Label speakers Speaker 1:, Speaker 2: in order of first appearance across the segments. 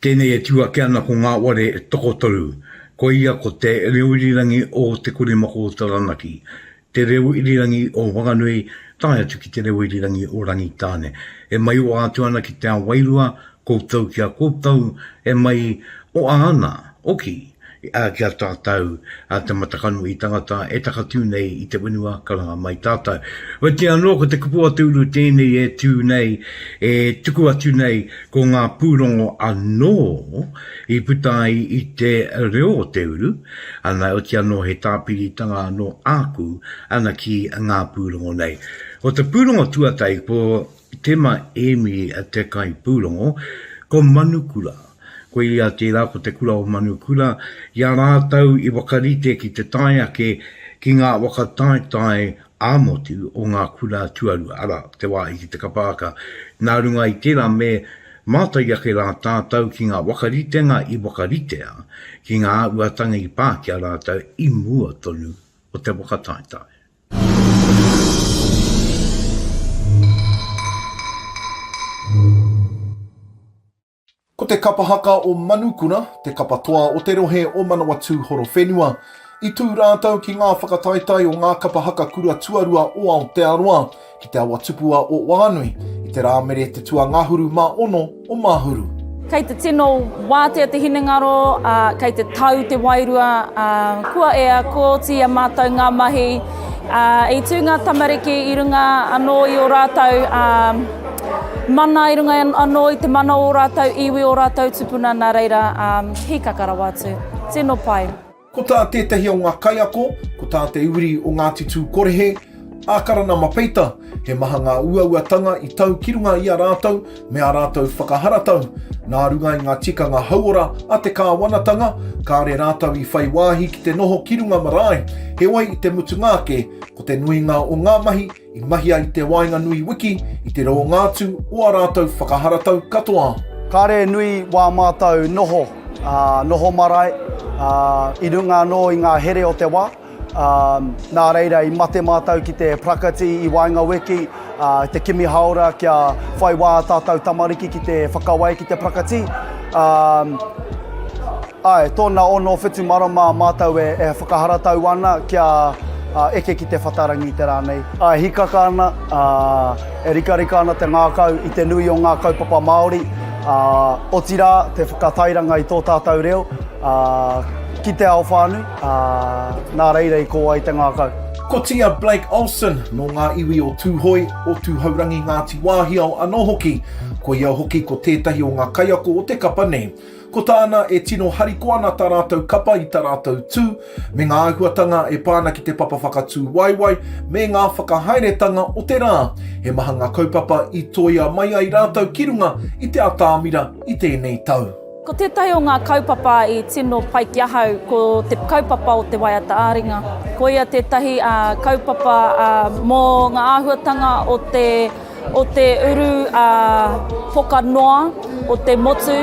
Speaker 1: Tēnei e tū ake ana ko ngā ware tokotoru, koia ko Te Reo Irirangi o Te Kuremako o Taranaki, Te Reo Irirangi o Whanganui tae atu ki Te Reo Irirangi o Rangitāne. E maiwa atu ana ki te ao wairua, koutou ki a koutou, e mai oa ana, oki, Ā, ki a tātou, ā, te matakano i tangata e takatū nei i te whenua ka ranga mai tātou. Oitia anō ko te kupu a te uru tēnei e tū nei, e tuku atu nei ko ngā pūrongo anō i puta ai i te reo o te uru, ana oitia anō he tāpiritanga anō āku ana ki ngā pūrongo nei. Ko te pūrongo tuatahi ko Tema Emi a te kai pūrongo, ko Manukura. Ko ia tērā ko Te Kura o Manukura, i a rātou i whakarite ki te tae ake ki ngā whakataetae ā-motu o ngā kura tuarua, arā, te wāhi ki te kapaaka. Nā runga i tērā me mātai ake rā tātou ki ngā whakaritenga i whakaritea ki ngā āhuatanga i pā ki a rātou i mua tonu o te whakataetae.
Speaker 2: Ko te kapa haka o Manukura te kapa toa o te rohe o Manawatū Horowhenua. I tū rātou ki ngā whakataetae o ngā kapa haka kura tuarua o Aotearoa. Ki te awa tupu a Oʻuanui, i te Rāmere te tuangahuru mā ono o Mahuru. Kei te tino
Speaker 3: wātea te hinengaro, ā, kei te tau te wairua, ā, kua ea, kua oti i a mātou ngā mahi. Ā, i tū ngā tamariki i runga anō i ō rātou, ā, mana, i runga anō i te mana o ō rātou iwi, ō rātou tupuna, nā reira, ā, hīkaka rawa atu. Tino pai. Ko tā tētahi
Speaker 2: o ngā kaiako, ko tā te uri o Ngāti Tūkorehe, a Karanama Peita, he maha ngā uauatanga i tau ki runga i a rātou me ā rātou whakaharatau. Nā runga i ngā tikanga hauora a te kāwanatanga, kāore rātou i whai wāhi ki te noho ki runga marae, heoi i te mutunga ake, ko te nuinga o ngā mahi I mahia i te waenganui wiki i te rōngātu o ā rātou whakaharatau katoa. Kāre e nui
Speaker 4: wā mātou noho, ā, noho marae, ā, i runga anō i ngā here o te wā, ā, nā reira i mate mātou ki te prakati i waenga wiki, ā, te kimi hāora kia whai wā ā tātou tamariki ki te whakawai ki te prakati, ā, Ae, tona ono whitu marama matou e whakaharatau ana kia eke ki te whatarangi te ra nei. E hikaka ana, e rikarika ana te ngakau i te nui o nga kaupapa Maori, otira te whakatairanga i to tatou reo ki te ao whanui, na reira i ko ai te ngakau. Kotia Blake
Speaker 2: Olsen, no nga iwi o Tuhoi, o Tuhourangi Ngati Wahiao ano hoki. Koia hoki ko tetahi o nga kaiako o te kapa nei. Ko tāna, e tino hariko ana tā rātou kapa i tā rātou tū, me ngā āhuatanga e pā ana ki te papa whakatūwaewae, me ngā whakahaeretanga o te rā. He maha ngā kaupapa i toia mai ai rātou ki runga i te atamira i tēnei tau. Ko tētahi o ngā
Speaker 3: kaupapa i tino pai ki ahau, ko te kaupapa o te waiata ā-ringa. Koia tētahi kaupapa mō ngā āhuatanga o te. o te uru ā poka noa o te motu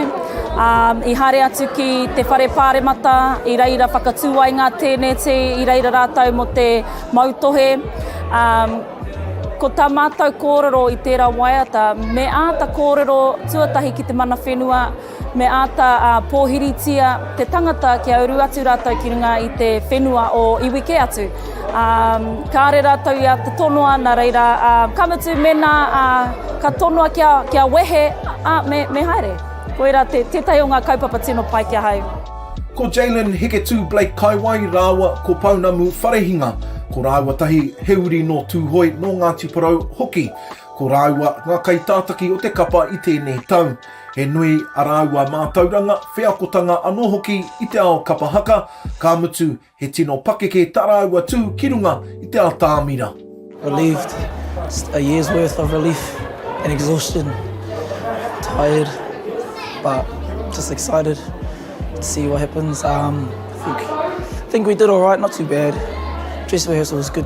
Speaker 3: ā i haere atu ki te whare pāremata i reira whakatū ai ngā tēneti i reira rātou mō te mautohe ā ko tā mātou kōrero i tērā waiata me āta kōrero tuatahi ki te mana whenua Me āta pōhiritia te tangata kia uru atu rātou ki runga i te whenua o iwi kē atu. Kāore rātou i āta tonoa, nā reira, ka mutu mēnā ka tonoa kia wehe, me haere. Koirā tētahi o ngā kaupapa tino pai ki ahau. Ko Jaylen
Speaker 2: Hiketū Blake Kaiwai rāua ko Pounamu Wharehinga, ko rāua tahi he uri nō Tūhoe, nō Ngāti Porou hoki. Ko rāua ngā kaitātaki o te kapa i tēnei tau. He nui a rāua mātauranga, wheakotanga anō hoki i te ao kapa haka, ka mutu he tino pakeke tā rāua tū ki runga i te atamira. Relieved,
Speaker 5: just a year's worth of relief and exhaustion, tired but just excited to see what happens, I think we did alright, not too bad, dress rehearsal was good.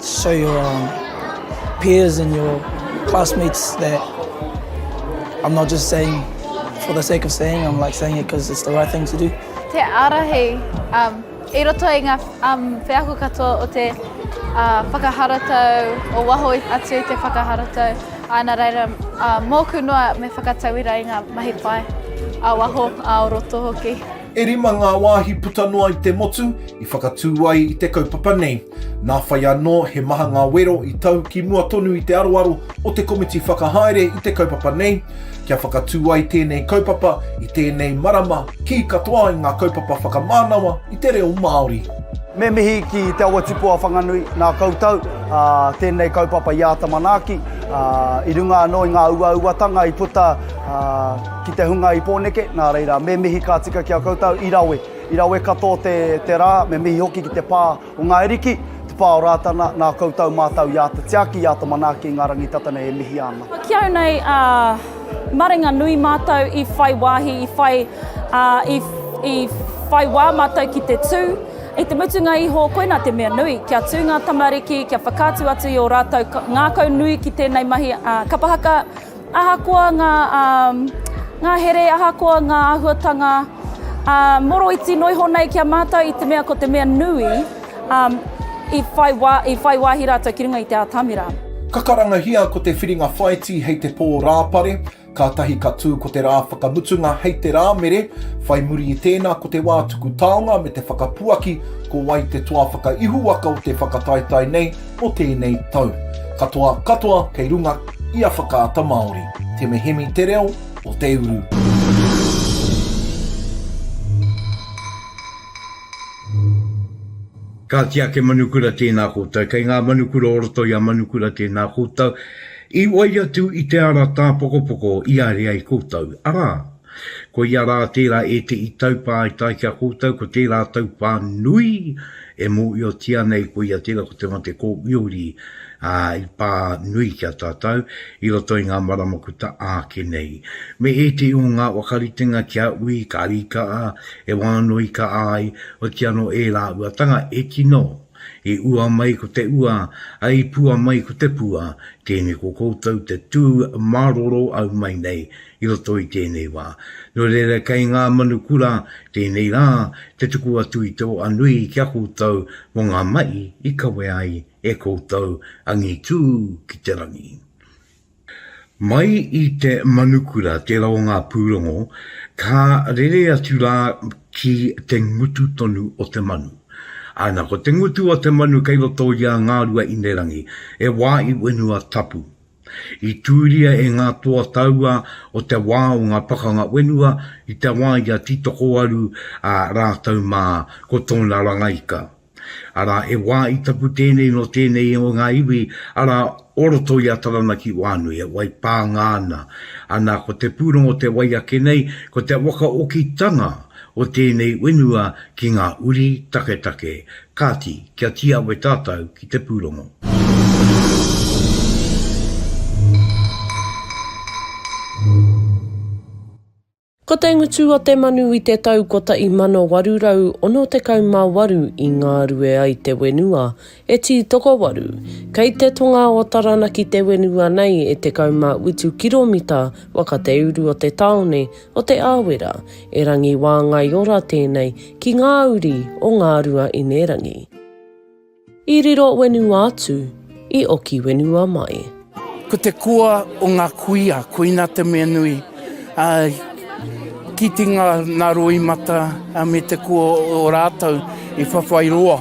Speaker 5: Show your um, peers and your classmates that I'm not just saying for the sake of saying, I'm like saying it because it's the right thing to do. Te arahi,
Speaker 6: um, i roto i ngā um, wheako katoa o te uh, whakaharatau, o waho atu i te whakaharatau, ana reira uh, mōku noa me whakatauira i ngā mahi pai a waho, a o roto hoki. E rima ngā
Speaker 2: wāhi puta noa i te motu i whakatū ai i te kaupapa nei. Nā whai anō he maha ngā wero i tau ki mua tonu i te aroaro o te komiti whakahaere i te kaupapa nei, kia whakatū ai tēnei kaupapa i tēnei marama kī katoa i ngā kaupapa whakamānawa i te reo Māori. Me mihi
Speaker 4: ki Te Awa Tupua Whanganui nā koutou, ā, tēnei kaupapa i āta manaaki, ā, i runga anō i ngā uauatanga i puta, ā, Ki te hunga i Pōneke, nā reira, me mihi ka tika ki a koutou i rawe. I rawe katoa te, te rā, me mihi hoki ki te pā o Ngāi Ariki, te pā o Rātana, nā koutou mātou i āta tiaki, i āta manaaki i ngā rangitatā nei e mihi ana. Ki au nei, ā,
Speaker 3: marenga nui mātou i whai wāhi, i whai, ā, i, i whai wā mātou ki te tū. I te mutunga iho, koinā te mea nui, kia tū ngā tamariki, kia whakaatu atu i ō rātou ngākau nui ki tēnei mahi, ā, kapa haka, Ahakoa ngā ngahere, ahakoa ngā āhuatanga moroiti noa iho nei ki a mātou i te mea ko te mea nui i whai wāhi rātou ki runga i te atamira. Ka karangahia
Speaker 2: ko te whiringa whaiti hei te pō rāpare, kātahi ka tū ko te rā whakamutunga hei te Rāmere, whai muri i tēnā ko te wā tuku taonga me te whakapuaki ko wai te toa whakaihuwaka o te whakataetae nei, o tēnei tau. Katoa katoa kei runga i a Whakaata Māori. Te Mehemi te reo o te uru.
Speaker 1: Ka tiake Manukura tēnā koutou. Kei ngā Manukura o roto i a Manukura tēnā koutou. I wai atu i te ara tāpokopoko i aere ai koutou, arā, Koia rā tērā ētehi taupaetae ki a koutou, ko tērā taupā nui e mōhiotia nei koia tērā ko te mate kōwiori i pā nui ki a tātou i roto i ngā marama kuta āke nei. Me ētehi o ngā whakaritenga ki a Ui Karīkaa e wānoika ai, oti anō ērā uatanga e tino i ua mai ko te ua, i pua mai ko te pua, tēnei ko koutou te tū māroro au mai nei i roto i tēnei wā. Nō reira kei ngā manu kura tēnei rā te tuku atu i te oa nui ki a koutou mō ngā mahi i kawe ai e koutou angitū ki te rangi. Mai i te manukura tērā o ngā pūrongo ka rere atu rā ki te ngutu tonu o te manu. Ana, ko te ngutu o te manu kei roto i a Ngāruahinerangi, he wā i wenua tapu, I tūria e ngā toa taua o te wā o ngā pakanga whenua i te wā i a Tītokowaru ā rātou mā ko tōna rangaika. Arā, he wā i tapu tēnei nō tēnei o ngā iwi, arā, o roto i a Taranaki wānui, e wai pānga ana. Ana, ko te pūrongo o te wai ake nei, ko te whakaokitanga o tēnei whenua ki ngā uri taketake, Kāti, kia tīawe tātou ki te pūrongo.
Speaker 7: Ko te ngutu o te manu i te tau 1868 i ngarue ai te wenua e Tītokowaru, kei te tonga o Taranaki te wenua nei e 18 kiromita waka te uru o te taone o Te Awera, e Rangi Wāngaiora tēnei ki ngā uri o Ngāruaīnerangi. I riro wenua atu, i oki wenua mai. Ko te koa
Speaker 8: o nga kuia, koina te mea nui, a kite nga roimata me te koa o ratou i whawhai roa.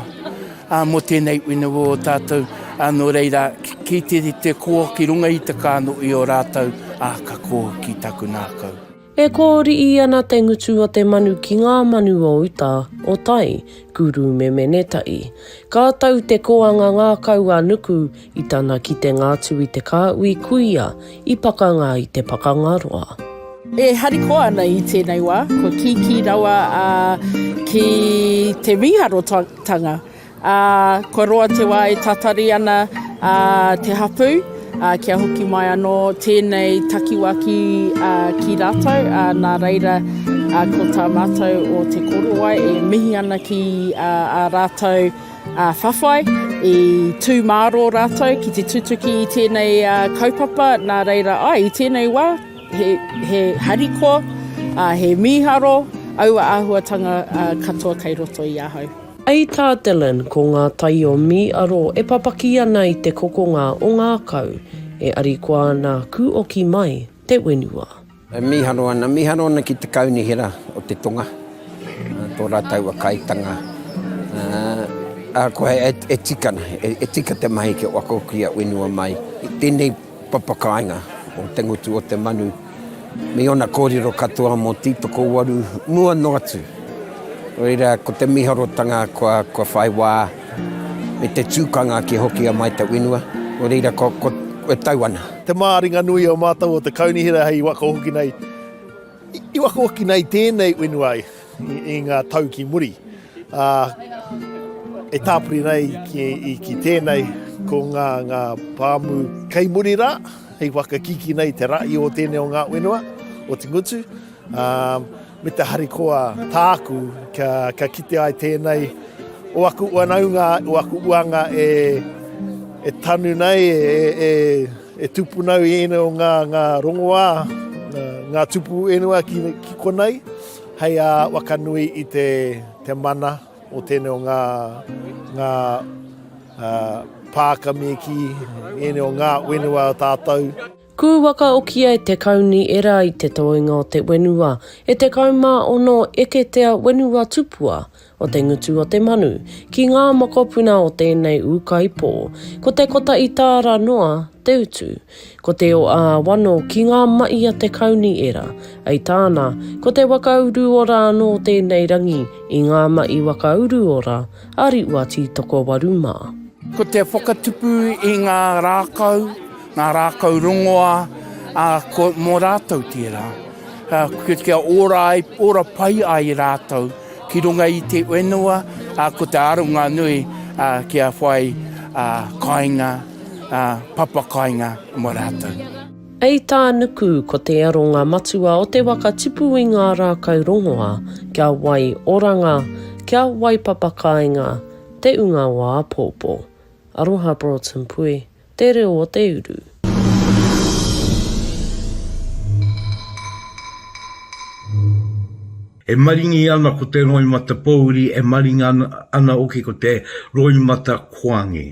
Speaker 8: Ā, mō tēnei uinuiwa o tātou, ā, nō reira, kī te rite kō ki runga i te kāno i o rātou, ā, ka kō ki taku ngākau. E kōriī
Speaker 7: ana te ngutu o te manu ki ngā manu o uta, o tai, ku rūmeme-ne-taʻi. Ka tau te kōanga ngākau a Nuku I tana kitenga atu i te kāhui, kuia i pakanga i te pakanga roa. E
Speaker 9: harikoa ana i tēnei wā, kua kīkī rawa ki te mīharotanga, ā, kua roa te wā e tatari ana te hapū, ā, kia hoki mai anō tēnei takiwā ki rātou, ā, nā reira, ko tā mātou o Te Korowai e mihi ana ki ā rātou, Ā whawhai, i tū mārō rātou ki te tutuki i tēnei kaupapa, nā reira, āe, i tēnei wā, he, he harikoa, ā, he mīharo aua āhuatanga katoa kei roto i ahau. Hei tā Dillon,
Speaker 7: ko ngā tai o Mīaro e papaki ana i te kokonga o ngākau, e arikoa nā kūoki mai te whenua. E mīharo ana,
Speaker 10: mīharo ana ki te kaunihera o te tonga, tō rātou a Kaitanga. Ahakoa e tika ana, e tika te mahi ki wako ki a whenua mai, i tēnei papakāinga o te ngutu o te manu, me ōna kōrero katoa mō Tītokowaru mua noa atu. Nō reira, ko te mīharotanga kua whai wā me te tūkanga kia hokia mai te whenua, nō reira, kua tau ana. Te māringanui o
Speaker 2: mātou o te kaunihera hei wakahoki nei, i wakahoki nei tēnei whenua i, i ngā tau ki muri. Uh, e tāpuri nei ki, i, ki tēnei, ko ngā, ngā pāmu kei muri rā, hei whakakiki nei te rahi o tēnei o ngā whenua, o te ngutu. Ā, me te harikoa tāku kia, kia kite ai tēnei o aku whanaunga, o aku uanga e, e tanu nei, e, e, e tūpuna i ēnei o ngā, ngā rongoā, ngā tupu ēnua ki, ki konei, hei a wakanui i te, te mana o tēnei o ngā, ngā uh, pāka me ki ēnei o ngā whenua tātou. Kū whakaokia
Speaker 7: e te Kauni era i te toenga o te wenua e 16 eketea wenua tupua o te ngutu o te manu ki ngā mokopuna o tēnei ūkaipō. Ko te kota i tāra noa te utu. Ko te o ā-wano ki ngā maʻi a te Kauni era, ai tāna, ko te waka uruora anō tēnei rangi i ngā maʻi waka uruora a Riʻua Tītokowaru mā. Ko te
Speaker 8: whakatupu i ngā rākau, Ngā rākau rongoā, ā, ko, mō rātou tērā. Ā, kia, kia ora ai, ora pai ai rātou ki runga i te whenua, ā, ko te aronga nui, ā, kia whai, ā, kāinga, ā, papa kāinga mō rātou. Hei tā
Speaker 7: Nuku, ko te aronga matua o te waka tipu i ngā rākau rongoā, kia wai oranga, kia wai papa kāinga te unga o āpōpō. Aroha Broughton Pui. Te reo o te uru.
Speaker 1: E maringi ana ko te roimata pouri, e maringa ana hoki ko te roimata koange.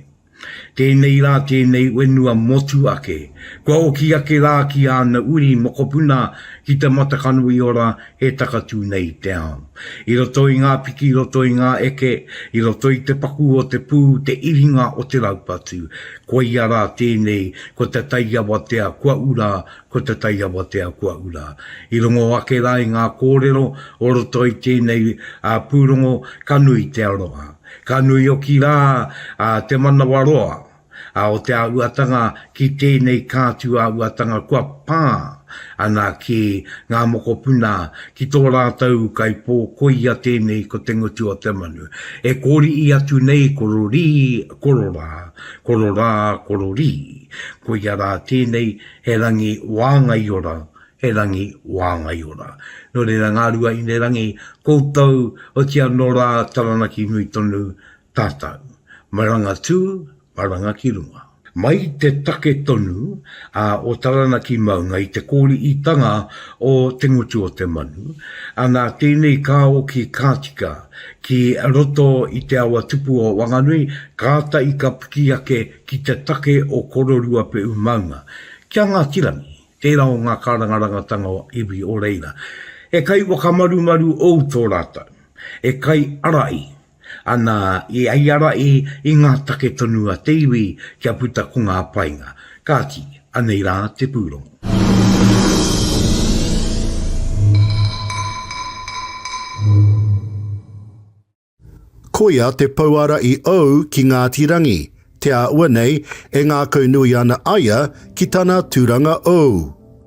Speaker 1: Tēnei rā tēnei whenua motu ake. Kua oki ake rā ki āna uri mokopuna ki te matakano i ora e takatū nei i te ao. I roto i ngā piki, i roto i ngā eke, i roto i te paku o te pū, te iringa o te raupatu, koia rā tēnei, ko te tai awatea kua ura, ko te tai awatea kua ura. I rongo ake rā i ngā kōrero o roto i tēnei pūrongo, ka nui te aroha. Ka nui hoki rā te manawaroa. a o te āhuatanga ki tēnei kātū āhuatanga kua pā ana ki ngā mokopuna ki tō rātou kaipō koia tēnei ko te ngutu o te manu e kōri'i atu nei kororī kororā kororā kororī koia rā tēnei he rangi wāngaiora he rangi wāngaiora nō reira ngā rua inerangi koutou otianō rā Taranaki nui tonu Tātou. Maranga tū, maranga ki runga. Mai te take tonu a o Taranaki maunga i te kōriitanga o Te Ngutu-o-te-manu, a nā tēnei ka oki ka tika ki roto i te awa tupu o Wanganui, kātahi ka piki ake ki te take o Kororuapeʻu maunga, ki a Ngāti Rangi, tērā o ngā kārangarangatanga o iwi o reira. He kai whakamarumaru ou tō rātou, he kai arai Ana, i ai a Rae i ngā take tonu a te iwi kia puta ko ngā painga. Kāti, anei rā te pūrongo.
Speaker 11: Koia te pouara i ou ki Ngāti Rangi, te āua nei e ngākaunui ana aia ki tana turanga ou.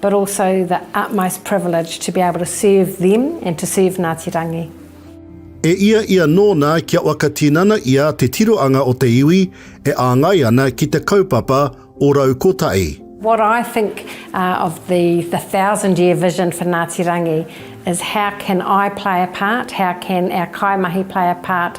Speaker 12: but also the utmost privilege to be able to serve them and to serve Ngāti Rangi. E
Speaker 11: ia ia nōna kia whakatinana ia te tiroanga o te iwi e āngai ana ki te kaupapa o rau kotahi. What I think
Speaker 12: uh, of the, the thousand year vision for Ngāti Rangi is how can I play a part, how can our kaimahi play a part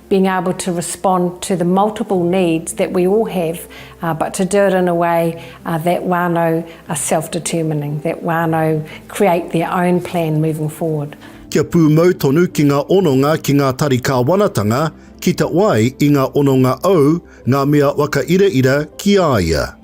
Speaker 12: being able to respond to the multiple needs that we all have but to do it in a way that whānau are self determining, that whānau create their own plan moving forward. Kia pūmau
Speaker 11: tonu ki ngā hononga ki ngā tari kāwanatanga, ki te wai i ngā hononga ou, ngā mea whakairaira ki a ia.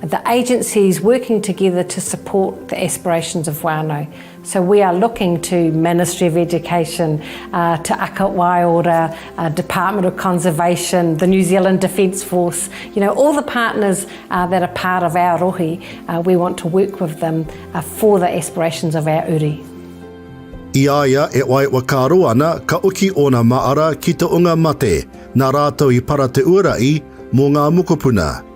Speaker 12: The agencies working together to support the aspirations of whānau. So we are looking to Ministry of Education, Te Aka Waiora, Department of Conservation, the New Zealand Defence Force, you know, all the partners that are part of our rohe, we want to work with them for the aspirations of our uri. I a
Speaker 11: ia e waewa ka roa ana, ka oki ōna māra ki te onga mate, nā rātou i para te ua ra'i mō ngā mokopuna.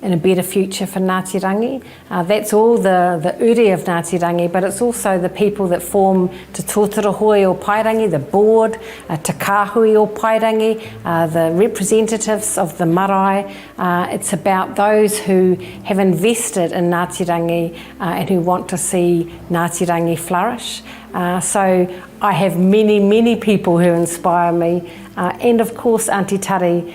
Speaker 12: and a better future for Ngāti Rangi, that's all the the uri of Ngāti Rangi but it's also the people that form Te Totoro Hoe o Paerangi, the board, Te Kāhui o Paerangi, the representatives of the marae, it's about those who have invested in Ngāti Rangi and who want to see Ngāti Rangi flourish, so I have many many people who inspire me and of course Aunty Tari,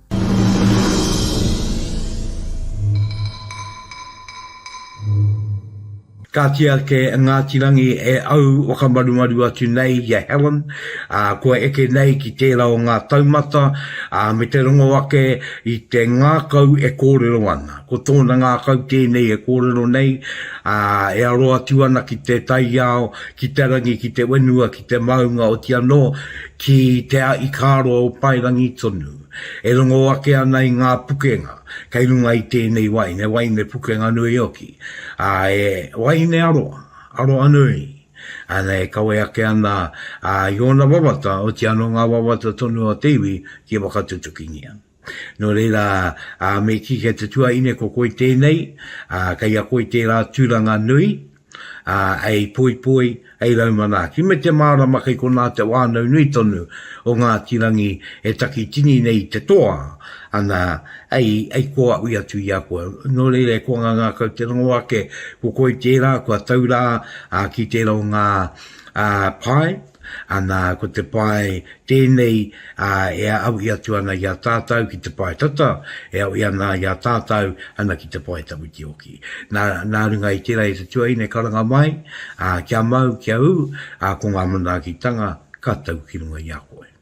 Speaker 1: Kāti ake a Ngāti Rangi e au whakamarumaru atu nei i a Helen, ā, kua eke nei ki tērā o ngā taumata, ā, me te rongo ake i te ngākau e kōrero ana. Ko tōna ngākau tēnei e kōrero nei, ā, e aro atu ana ki te taiao, ki te rangi, ki te whenua, ki te maunga oti anō ki Te Aʻikāroa o Paerangi tonu, e rongo ake ana i ngā pukenga kei runga i tēnei wai, he waine pukenga nui hoki, ā, he waine aroha, aroha nui, ā, e kawe ake ana i ōna wawata, oti anō ngā wawata tonu o te iwi ki whakatutukingia. Nō reira, ā, me kī kei te tuaine ko koe tēnei, ā, kei a koe tērā tūranga nui, ā, hei poipoi, hei rau manaaki. Me te mārama kei konā te whānau nui tonu o Ngāti Rangi e takitini nei i te toa, ana, hei, hei koahui atu i a koe. Nō reira, e koa ngā ngākau te rongo ake, ko koe tērā kua tau rā, ā, ki tērā o ngā, ā, pae, Ana, ko te pae tēnei e aui atu ana i a tātau ki te pae tata, e aui ana i a tātau ana ki te pae tawitiwaki. Nā, nā runga i tērā i te tuaiina e karanga mai, kia mau, kia ū, ko ngā manaakitanga ka tau ki runga i a koe.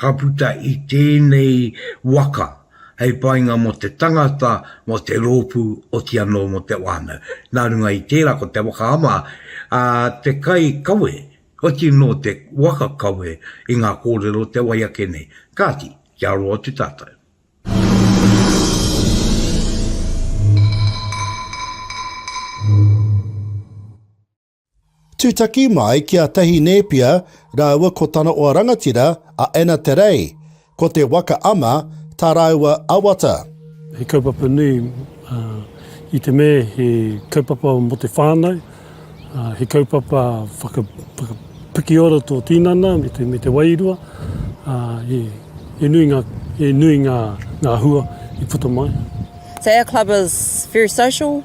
Speaker 1: Ka puta i tēnei waka hei painga mō te tangata, mō te rōpū, oti anō mō te whānau. Nā runga i tērā ko te waka ama a te kai kawe, oti nō te waka kawe i ngā kōrero o te wai ake nei. Kāti, kia aro atu tātou.
Speaker 11: Tūtaki mai ki a Tahi Nēpia rāua ko tana oa rangatira a Anna Te Rei, ko Te Waka Ama tā rāua awata. He kaupapa
Speaker 13: nui, i te mea he kaupapa mō te whānau, he kaupapa whakapikiora tō tinana me te wairua, he nui ngā, he nui ngā hua i puta mai. Te Air Club
Speaker 14: is very social,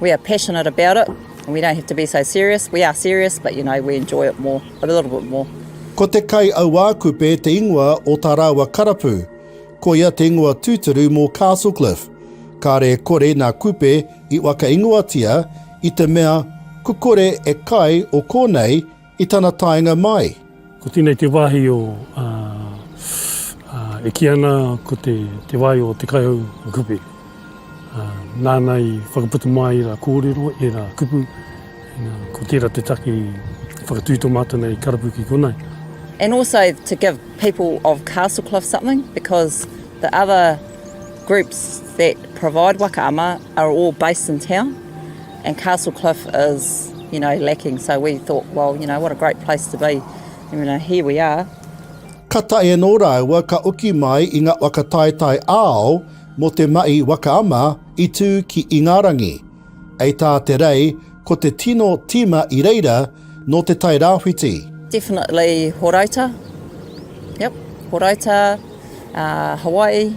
Speaker 14: We are passionate about it, and we don't have to be so serious. We are serious, but you know, we enjoy it more, a little bit more. Ko te kai
Speaker 11: auākupe te ingoa o tā rāua karapu. Ko ia te ingoa tūturu mō Castle Cliff. Kāre e kore nā kupe i whakaingoatia i te mea kukore e kai o kōnei I tana taenga mai. Ko tenei te wahi
Speaker 13: o e ki ana ko te te wai o te kaihau kupe. Nana i whakaputa mai i ra korero e ra kupu. Ko tera te take i whakatu to mata nei karapu ki konei. And also
Speaker 14: to give people of Castlecliff something because the other groups that provide waka ama are all based in town. And Castle Cliff is, you know, lacking, so we thought, well, you know, what a great place to be, and you know, here we are. Ka taea
Speaker 11: nō rāua ka oki mai i nga waka taetae ao mo te mahi waka ama i tu ki Ingarangi. Ei tā Te Rei, ko te tino tima i reira nō Te Tai Rāwhiti. Definitely
Speaker 14: Horouta, yep, Horouta, uh, Hawaii.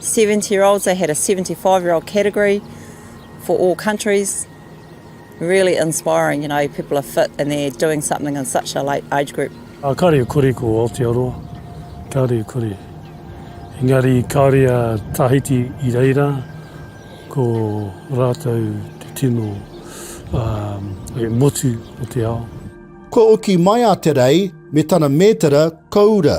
Speaker 14: 70 year olds, they had a 75 year old category for all countries. Really inspiring, you know, people are fit and they're doing something in such a late age group. Uh, kāre i kore ko
Speaker 13: Aotearoa, kāre i kore. Engari kāre a Tahiti i reira, ko rātou te tino um, e motu o te ao. Kua oki
Speaker 11: mai a Te Rei me tana mētara koura.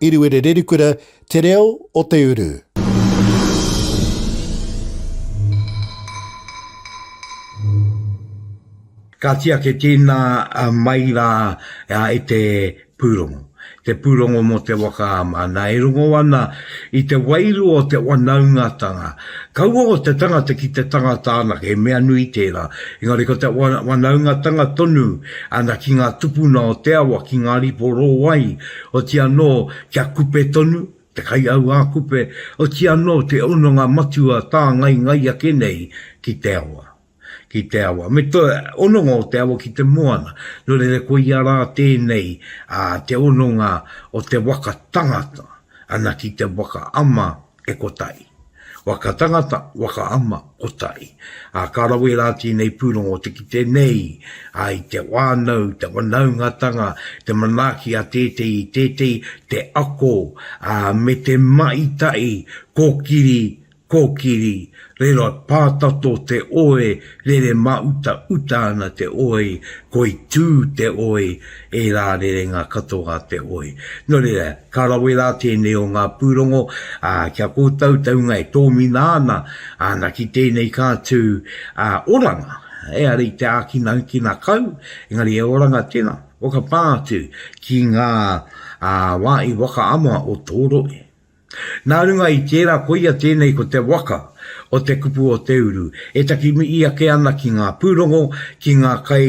Speaker 11: Eruere Rerukura, Te Reo o te Uru.
Speaker 1: Ka tiaki tīna mai rā i te pūrongo, te pūrongo mō te waka a Māna e rongo ana i te wairua o te wanaungatanga. Kaua ko te tangata ki te tangata anake, he mea nui tērā, engari ko te wanaungatanga tonu ki ngā tupuna o te awa, ki ngā ripo rōwai Oti anō kia kupe tonu, te kaiauākupe, oti anō te hononga matua tāngaingai ake nei ki te awa, ki te awa. Me te hononga o te awa ki te moana, nō reira koia rā tēnei te hononga o te waka tangata, ana ki te waka ama e kotahi. Waka tangata, waka ama, kotahi. Ā, ka rawe rā tēnei pūrongo te kite nei i te whānau, te whanaungatanga, te manaaki a tētehi i tētehi, te ako, ā, me te mahi tahi, kōkiri, kōkiri, Reira e pātato te oi rere māuta uta ana te oi koi tū te oi e rā rerenga katoa te oi. No reira, ka rawe rā tēnei o ngā pūrongo, ā, ki a koutou taunga e tōmina ana, ana ki tēnei ka tū, ā, oranga, eara i te ākina kina kau, engari e oranga tena, whakapā atu ki ngā, ā, wā i whakaama o tō rohe. Nā runga i tērā koia tēnei ko te waka o te kupu o te uru e takimihi ake ana ki ngā pūrongo, ki ngā kai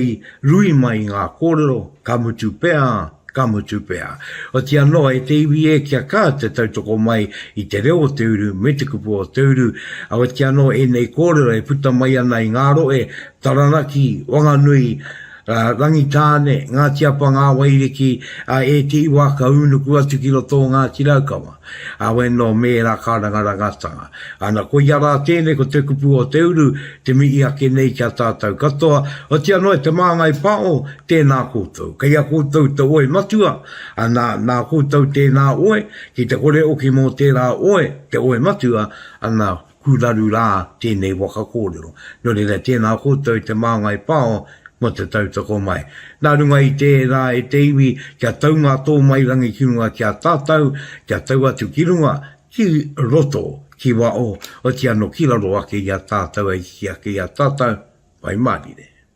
Speaker 1: rui mai ngā kōrero, ka mutu pea, ka mutu pea. Otiia noa e te iwi e kia ka te tautoko mai i te reo o te uru me te kupu o te uru, awetia anō ēnei kōrero e puta mai ana i ngā rohe, Taranaki, Wanganui, a Rangitāne, Ngāti Apa, Ngā Wairiki, a e te iwa ka ūnuku atu ki roto o Ngāti Raukawa, a we nō mēra kārangarangatanga. Ana koia rā tēnei ko te kupu o te uru te mihi ake nei ki a tātau katoa, otia noa te māngai pao, tēnā koutou. Kei a koutou te oe matua, ana nā koutou tēnā oe, ki te kore oki mō tērā oe, te oe matua, ana Kuraru rā tēnei waka kōrero. Nō reira, tēnā koutou i te māngai pao mō te tautoko mai. Nā runga i tērā e te iwi, kia tau ngā tōmairangi ki runga ki a tātou, kia tau atu ki runga, ki roto, ki waho, otiano ki raro ake i a tātou e hiki ake i a tātou, Pai Mārire.